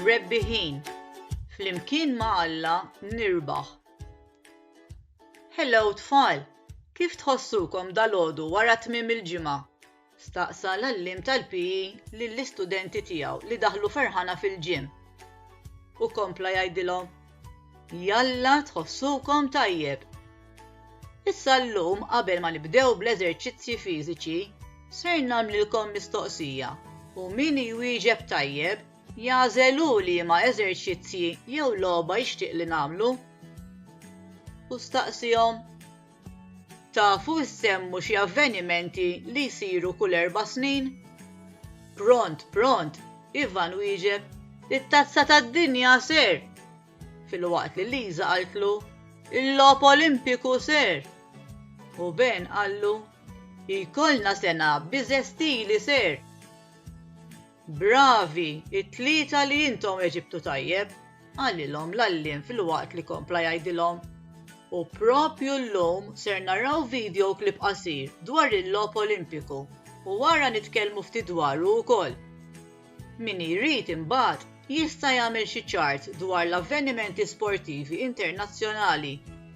Rebbiħin, flimkien ma' Alla nirbaħ. Hello tfal, kif tħossukom dalgħodu wara tmiem il-ġimgħa? staqsa l-għalliem tal-PE lill-istudenti tiegħu li daħlu ferħana fil-gym. U kompla jgħidilhom, Jalla tħossukom tajjeb! Issa llum qabel ma nibdew bl-eżerċizzji fiżiċi, ser nagħmlilkom mistoqsija u min jwieġeb tajjeb jagħżel hu liema eżerċizzji jew logħba jixtieq li nagħmlu. U staqsihom. Tafu ssemmu xi avvenimenti li jsiru kull erba' snin? Pront, pront, Ivan wieġeb, It-Tazza tad-Dinja ser! Filwaqt li Lisa qaltlu, Il-Logħob Olimpiku ser! U Ben qallu, Jkollna sena biżestili ser! Bravi, it-tlieta li intom eġibtu tajjeb, qalilhom l-għalliem filwaqt li kompla jgħidilhom. U propju llum ser naraw video clip qasir dwar il-Logħob Olimpiku u wara nitkellmu ftit dwaru wkoll. Min jrid imbagħad jista' jagħmel xi chart dwar l-avvenimenti sportivi internazzjonali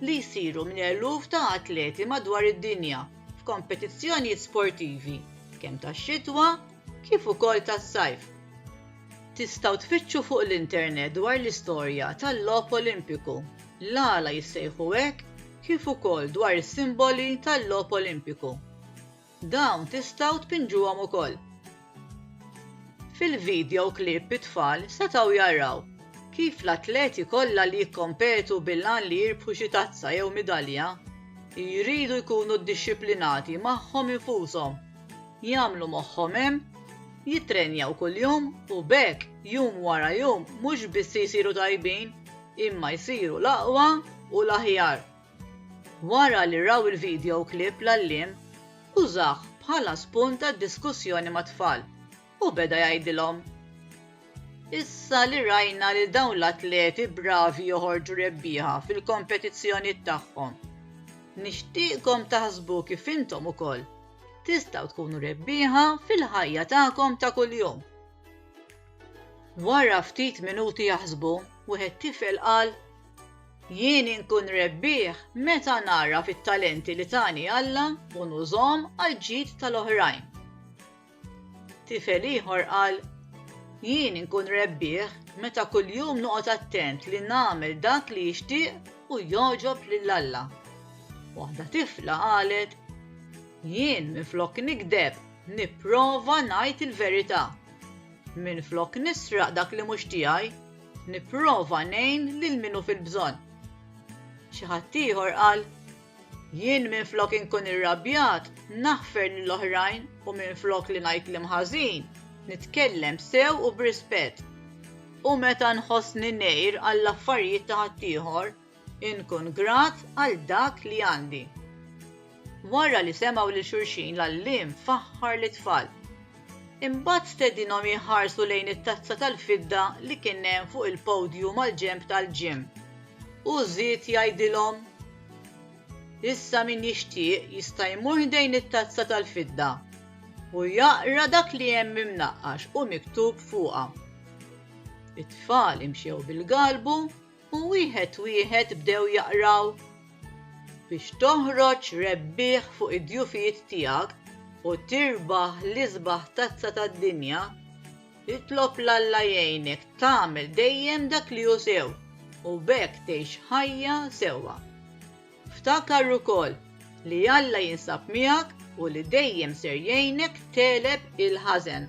li jsiru minn eluf ta' atleti madwar id-dinja f'kompetizzjonijiet sportivi kemm tax-xitwa kif ukoll tas-sajf. Tistgħu tfittxu fuq l-internet dwar l-istorja tal-Logħob Olimpiku, l-għala jissejħu hekk kif ukoll dwar is-simboli tal-Logħob Olimpiku. Dawn tistgħu tpinġuhom ukoll. Fil-vidjow klipp it-tfal setgħu jaraw kif l-atleti kollha li jikkompetu bil-għan li jirbħu xi tazza jew midalja jridu jkunu ddixxiplinati magħhom infushom. jagħmlu moħħhom hemm, jittrenjaw kuljum u b'hekk jum wara jum mhux biss isiru tajbin imma jsiru l-aqwa u l-aħjar. Wara li raw il-video clip l-għalliem użah bħala spunt għad-diskussjoni mat-tfal. U beda jgħidilhom, Issa li rajna lil dawn l-atleti bravi joħorġu rebbieħa fil-kompetizzjonijiet tagħhom, nixtieqkom taħsbu kif intom ukoll tistgħu tkunu rebbieħa fil-ħajja tagħkom ta' kuljum. Wara ftit minuti jaħsbu, wieħed tifel qal, Jien inkun rebbieħ meta nagħraf it-talenti li tani Alla u nużhom għall-ġid tal-oħrajn. Tifel ieħor qal, Jien inkun rebbieħ meta kuljum noqgħod attent li nagħmel dak li jixtieq u jogħġob lil Alla. Waħda tifla qalet, Jien minflok nikdeb, nipprova ngħid il-verità. Minflok nisraq dak li mhux tiegħi, nipprova ngħin lil min hu fil-bżonn. Xi ħadd ieħor qal, Jien minflok inkun irrabjat, naħfer lil oħrajn u minflok li ngħid kliem ħażin, nitkellem sew u b'rispett. U meta nħossni ngħir għall-affarijiet ta' ħaddieħor, inkun grat għal dak li għandi. Wara li semgħu lil xulxin l-għalliem faħħar lit-tfal. Imbagħad stedinhom jħarsu lejn it-tazza tal-fidda li kien hemm fuq il-podju mal-ġenb tal-ġim. Hu żied jgħidilhom, Issa min jixtieq jista' jmur ħdejn it-tazza tal-fidda u jaqra dak li hemm imnaqqax u miktub fuqha. It-tfal imxew bil-galbu u wieħed wieħed bdew jaqraw, Biex toħroġ rebbieħ fuq id-djufijiet tiegħek u tirbaħ l-isbaħ tazza tad-dinja, Itlob 'l Alla jgħinek tagħmel dejjem dak li hu sew u b'hekk tgħix ħajja sewwa. Ftakar ukoll li Alla jinsab miegħek u li dejjem ser jgħinek tegħleb il-ħażen.